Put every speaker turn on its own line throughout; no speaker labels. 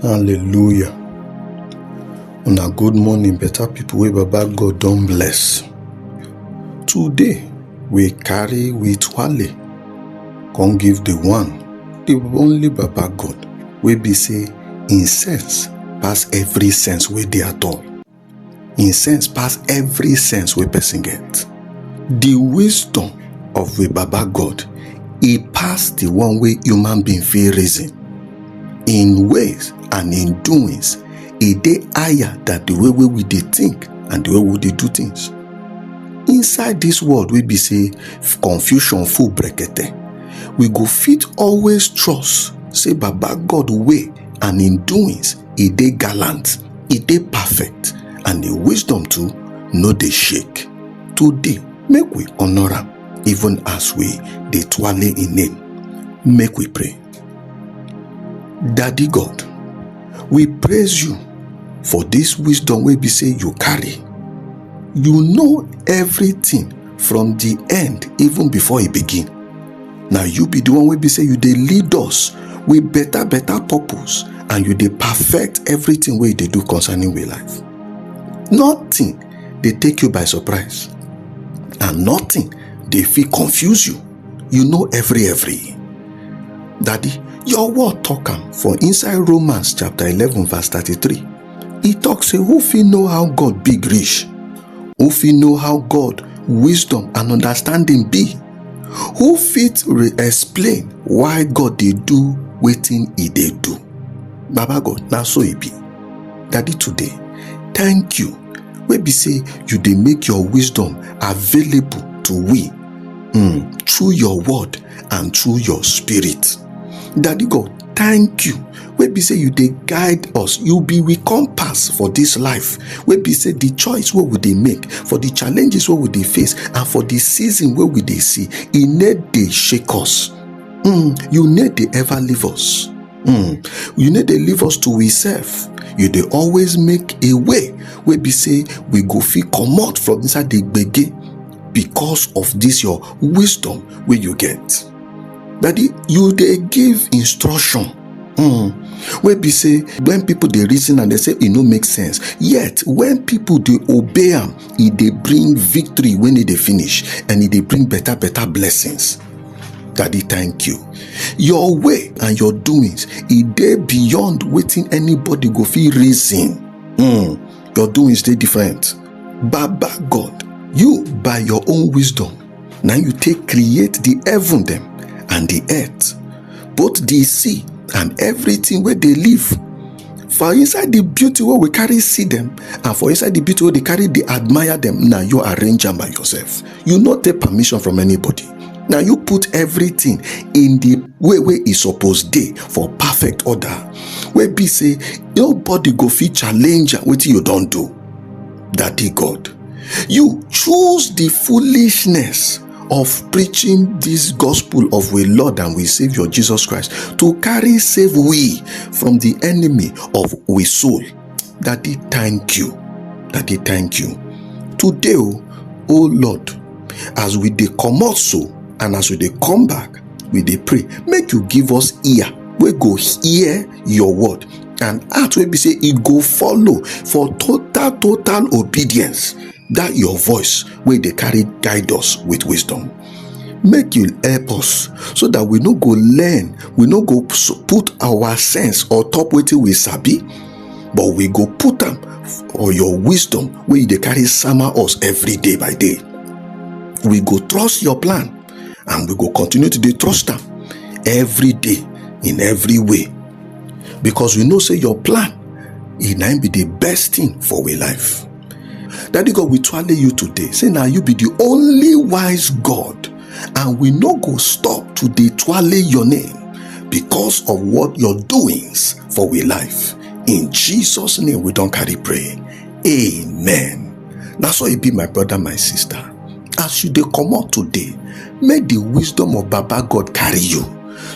hallelujah una good morning better people wey baba god don bless today we carry we twale come give the one the only baba god wey be say im sense pass every sense wey dey at all im sense pass every sense wey person get the wisdom of we baba god e pass the one wey human being fit reason in ways and in doings e dey higher than the way wey we dey think and the way we dey do things inside this world wey be say confusion full brekete we go fit always trust say baba god way and in doings e dey gallant e dey perfect and im wisdom too no dey shake today make we honour am even as we dey twale im name make we pray daddy god we praise you for dis wisdom wey be say you carry you know everything from di end even before e begin na you be the one wey be say you dey lead us with better better purpose and you dey perfect everything wey you dey do concerning we life nothing dey take you by surprise and nothing dey fit confuse you you know every every daddy your word talk am for inside romans chapter 11 verse 33 e talk say who fit know how god big reach who fit know how god wisdom and understanding be who fit re-explain why god dey do wetin e dey do baba god na so e be daddy today thank you wey be say you dey make your wisdom available to we um through your word and through your spirit daddy god thank you wey be say you dey guide us you be we compass for this life wey be say the choice wey we dey make for the challenges wey we dey face and for the season wey we dey see e no dey shake us mm, you no dey ever leave us mm, you no dey leave us to we self you dey always make a way wey be say we go fit comot from inside the gbege because of this your wisdom wey you get daddy you dey give instruction um wey be say when people dey reason am dey say e no make sense yet when people dey obey am e dey bring victory when e dey finish and e dey bring better better blessings daddy thank you your way and your doings e dey beyond wetin anybody go fit reason um your doings dey different baba god you by your own wisdom na you take create the heaven dem and the earth both the sea and everything wey dey live for inside the beauty wey we carry see them, and for inside the beauty wey dey carry dey admire them. na you arrange am by yourself you no take permission from anybody na you put everything in the way wey e suppose dey for perfect order wey be say nobody go fit challenge am wetin you don do Daddy God, you choose the foolishness of preaching this gospel of we Lord and we Savior Jesus Christ to carry save we from the enemy of we soul. Daddy, thank you. Daddy, thank you. Today, oh, oh Lord, as we dey comot so and as we dey come back, we dey pray. Make you give us ear wey go hear your word and heart wey be say e go follow for total total obedience that your voice wey dey carry guide us with wisdom make you help us so that we no go learn we no go s- put our sense or top wetin we sabi but we go put am for your wisdom wey you dey carry sama us every day by day we go trust your plan and we go continue to dey trust am every day in every way because we know say your plan e na im be the best thing for we life daddy god we twale you today say na you be the only wise god and we no go stop to dey twale your name because of what your doings for we life in jesus name we don carry pray amen na so e be my brother my sister as you dey comot today make the wisdom of baba god carry you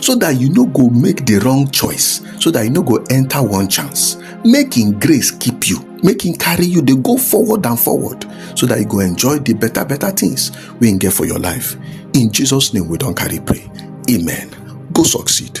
so that you no go make the wrong choice so that you no go enter one chance make him grace keep you make him carry you dey go forward and forward so that you go enjoy the better better things wey him get for your life in jesus name we don carry pray amen go succeed.